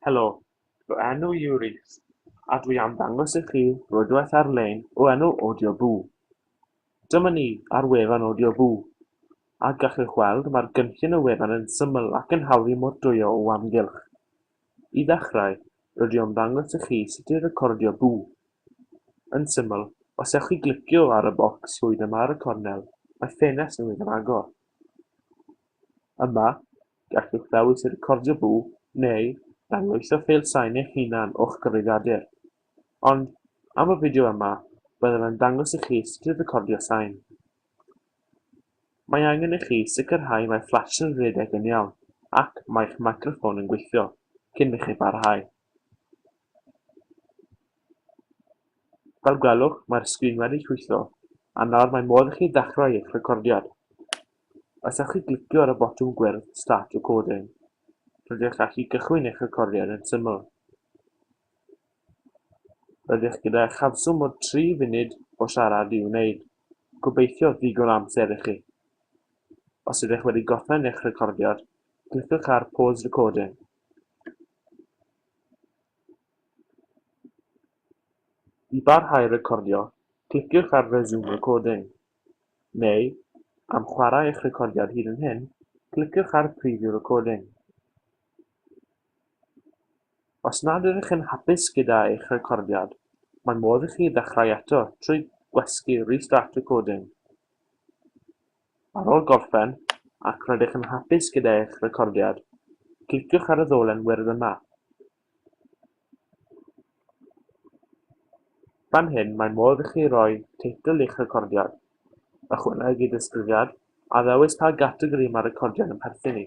Helo, fy enw i yw Rhys, a dwi am ddangos i chi rwydwaith ar-lein o enw Audioboo. Dyma ni ar wefan Audioboo, a gallwch weld mae'r gynllun y wefan yn syml ac yn hawdd i mordwyo o amgylch. I ddechrau, rydw i am ddangos i chi sut i recordio bŵ. Yn syml, os ewch i glicio ar y bocs llwyd yma ar y cornel, mae ffenest newydd yn agor. Yma, Gallwch ddewis recordio bw neu dangoeisio ffeil sain eich hunan o'ch cyfrifiadur. Ond, am y fideo yma, byddaf yn dangos i chi sut i recordio sain. Mae angen i chi sicrhau mae fflash yn rhedeg yn iawn ac mae'ch meicroffon yn gweithio cyn i chi barhau. Fel gwelwch, mae'r sgrin wedi chwytho, a nawr mae modd i chi ddechrau eich recordiad. Os ewch i glicio ar y botwm gwyrdd Start Recording, rydych chi'n gallu cychwyn eich recordiad yn syml. Rydych gyda chafswm o 3 funud o siarad i'w wneud, gobeithio ddigon o amser i chi. Os ydych wedi gorffen eich recordiad, cliciwch ar Pause Recording. I barhau recordio, cliciwch ar Resume Recording. neu am chwarae eich recordiad hyd yn hyn cliciwch ar preview recording os nad ydych yn hapus gyda eich recordiad mae modd i chi ddechrau eto trwy gwasgu restart recording ar ôl gorffen ac rydych yn hapus gyda eich recordiad cliciwch ar y ddolen wyrdd yma Fan hyn mae modd i chi roi teitl i'ch recordiad, ychwanegu disgrifiad, a ddewis pa gategori mae'r recordiad yn perthyn i.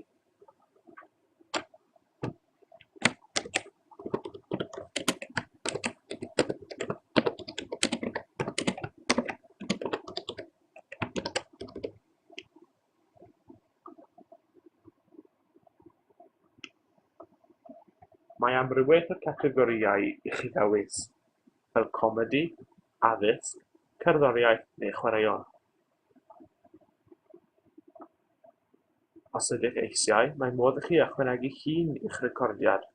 Mae amrywiaeth o gategorïau i chi ddewis, fel comedi, addysg, cerddoriaeth neu chwaraeon. Os ydych eisiau, mae modd i chi ychwanegu llun i'ch recordiad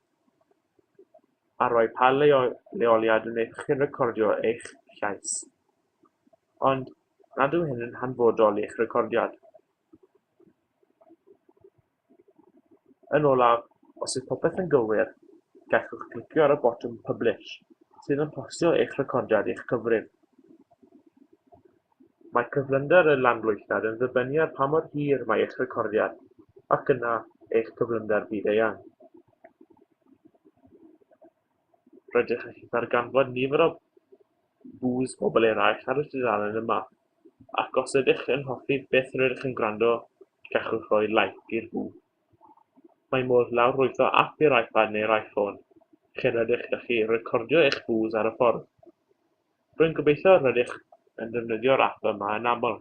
a rhoi pa leoliad wnaethoch chi recordio eich llais. ond nad yw hyn yn hanfodol i'ch recordiad yn olaf os yw popeth yn gywir gallwch glicio ar y botwm publish sydd yn postio eich recordiad i'ch cyfrif mae cyflymder y lanweithiad yn dibynnu ar pa mor hir mae eich recordiad ac yna eich cyflymder byd-eang Rydych chi'n darganfod nifer o views pobl eraill ar y dudalen yma, ac os ydych yn hoffi beth rydych yn gwrando, gallwch roi like i'r view. Mae modd lawrlwytho ap i'r iPad neu'r iPhone, lle rydych yn gallu recordio eich views ar y ffordd. Rwy'n gobeithio rydych yn defnyddio'r ap yma yn aml.